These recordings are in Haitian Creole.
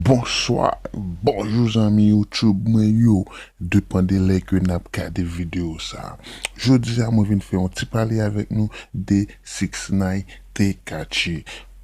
Bonswa, bonjou zanmi YouTube mwen yo, depan de lè ke nap gade video sa. Jodi a mwen vin fè yon ti pale avèk nou de 6ix9ine Tekachi.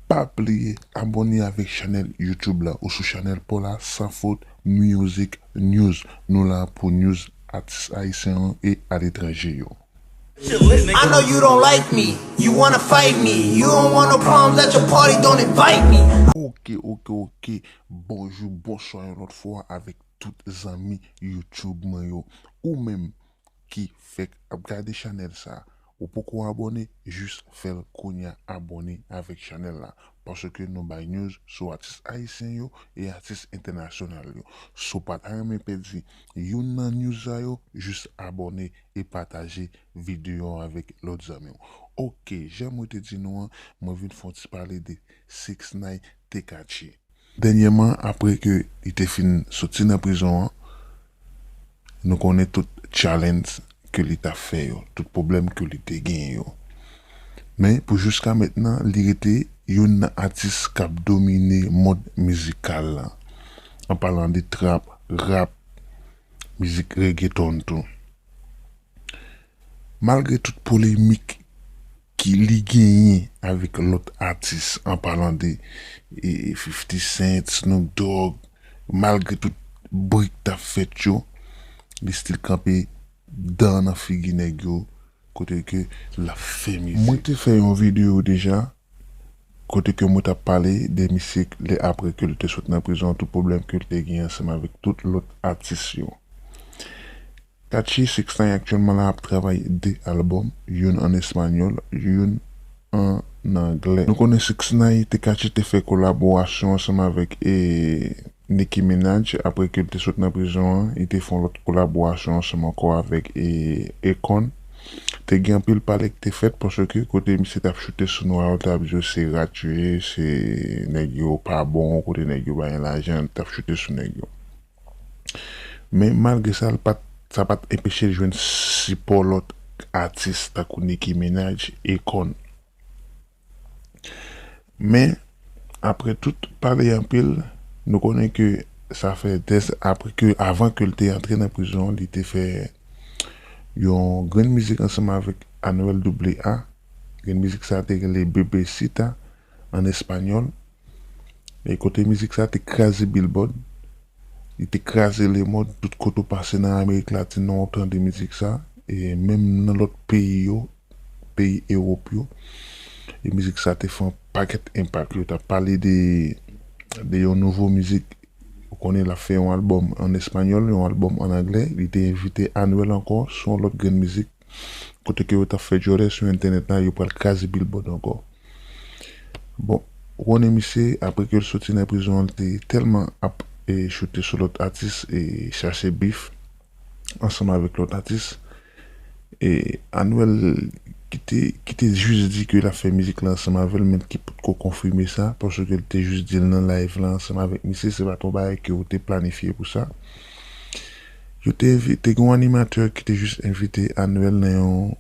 Pa bliye abone avèk chanèl YouTube la ou sou chanèl paw la Sans Faute Music News. Nou la pou news atis ayisyen yo e aletranje yo. I know you don't like me You wanna fight me You don't want no problems at your party Don't invite me Ok ok ok bonjou bonswa yon lòt fwa avèk tout zanmi YouTube mwen yo ou menm ki fèk ap gade chanèl sa ou poko abòne jis fèl kounya abòne avèk chanèl la paske nou bay news sou atis ayisyen yo e atis entènasyonal yo si w pa ta renmen pèdi youn nan news sa yo jis abòne e pataje video an avèk lòt zanmiw ok jan mwen te di nou an mwen vin fè yon ti pale de 6ix9ine Tekachi dènyèman aprè ke li te fin soti nan prizon an nou konnen tout challenge ke li ta fè yo tout pwoblèm ke li te genyen yo men pou jiskamentnan li rete youn nan atis kap domine mond mizikal lan an palan de trap, rap. mizik reggaeton tou. Malgre tout polemik ki li genyen avèk lòt atis an palan de Fifty Cent, Snoop Dogg, malgre tout bri k tap fèt yo, li stil kanpe dan nan figi nèg yo kote ke lap fè mizik. Mwen te fè yon video deja Kote ke mwen tap pale de misye lè apre ke li te sot nan prizon tout pwoblèm ke li te gen ansanm avèk tout lòt atis yo. Tachi 6 ix aktyèlman la ap travay 2 album, youn an espanyòl, youn an anglè. Nou konnen 6 ix te Kachi te fè kolaborasyon ansanm avèk e. Nicki Minaj apre ke l te sot nan prizon an li te fè yon lòt kolaborasyon ansanm ankò avèk Akon. Te gen anpil pale ki te fèt paske kote misye t ap choute sou nwa yo t ap di yo se rat yo ye, se nèg yo pa bon, kote nèg yo pa gen lajan li t ap choute sou nèg yo. Men malgre sa l pat sa pat enpeche l jwenn sipò lòt atis tankou Nicki Minaj, Akon. Men, apre tout pale anpil, nou konnen ke sa fè dè zan apre ke, avan ke l te antre nan prizon, li te fè yon grenn mizik ansanm avèk Anuel AA. Grenn mizik sa a te rele Bebecita, an espanyòl. E kote mizik sa te kraze Billboard, li te kraze lemond, tout kote ou pase nan Amerik Latin nan ou tande mizik sa, e menm nan lòt peyi yo, peyi Ewop yo, e mizik sa te fè yon pakèt enpak. Yo ta pale de de yon nouvo mizik, ou konnen l ap fè yon albòm an espanyòl, yon albòm an anglè, li te envite Anuel ankò sou yon lòt grenn mizik. Kote ke yo tap fè djòlè sou entènèt la yo pral kraze bilbòd ankò. Bon ou konnen misye apre kel soti nan prizon an li te tèlman ap choute sou lòt atis e chache bif ansanm avèk lòt atis e Anuel ki te ki te jis di ke lap fè mizik la ansanm avèl men ki potko konfime sa paske li te jis dil nan live la ansanm avèk misye se pat yon bagay ke yo te planifye pou sa. Yo te envite, te gen yon animatè ki te jis envite Anuel nan yon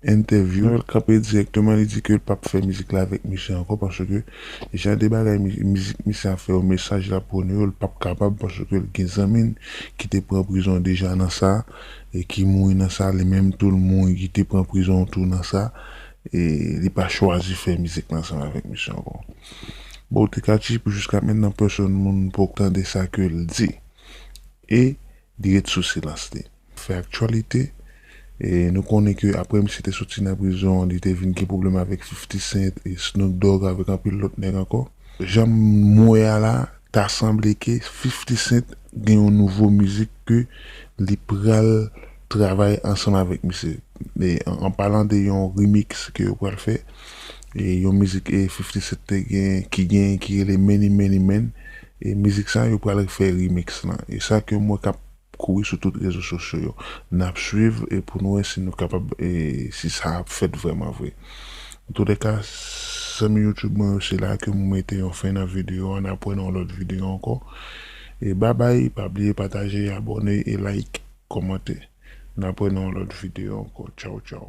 entèvyou. Anuel kanpe dirèkteman li di ke l pap fè mizik la avèk misye ankò paske jan de bagay mizik misye ap fè yo, mesaj l ap pwone yo l pap kapab paske l gen zanmi l ki te pran prizon deja nan sa e ki mouri nan sa li menm tou l mouri li te pran prizon tou nan sa e li pa chwazi fè mizik la ansanm avèk misye ankò. Bon Tekachi pou jiska mentnan pèsòn moun poko tande sa ke l di. e li ret sou silans li. Fè aktyalite, e nou konnen ke aprè misye te soti nan prizon li te vin gen pwoblèm avèk Fifti Sent e Snoop Dogg avèk anpil lòt nèg ankò. Janm wè a la ta sanble ke Fifti Sent gen yon nouvo mizik ke li pral. travay ansanm avèk misye an palan de yon remix ke yo pral fè yon mizik 50 cent te gen ki gen ki rele many many men e mizik sa yo pral fè remix lan e sa ke m wè kap kouri sou tout rezo sosyo yo nap swiv e pou nou wè si nou kapab e si sa ap fèt vrèman vre antoulèka zanmi youtube mwen yo se la ke m mete yon fen nan videyo an nap wè nan yon lòt videyo ankò e babay pa bliye pataje abòne e like. Kòmante. N apre nan yon lòt video ankò. Tchaw tchaw.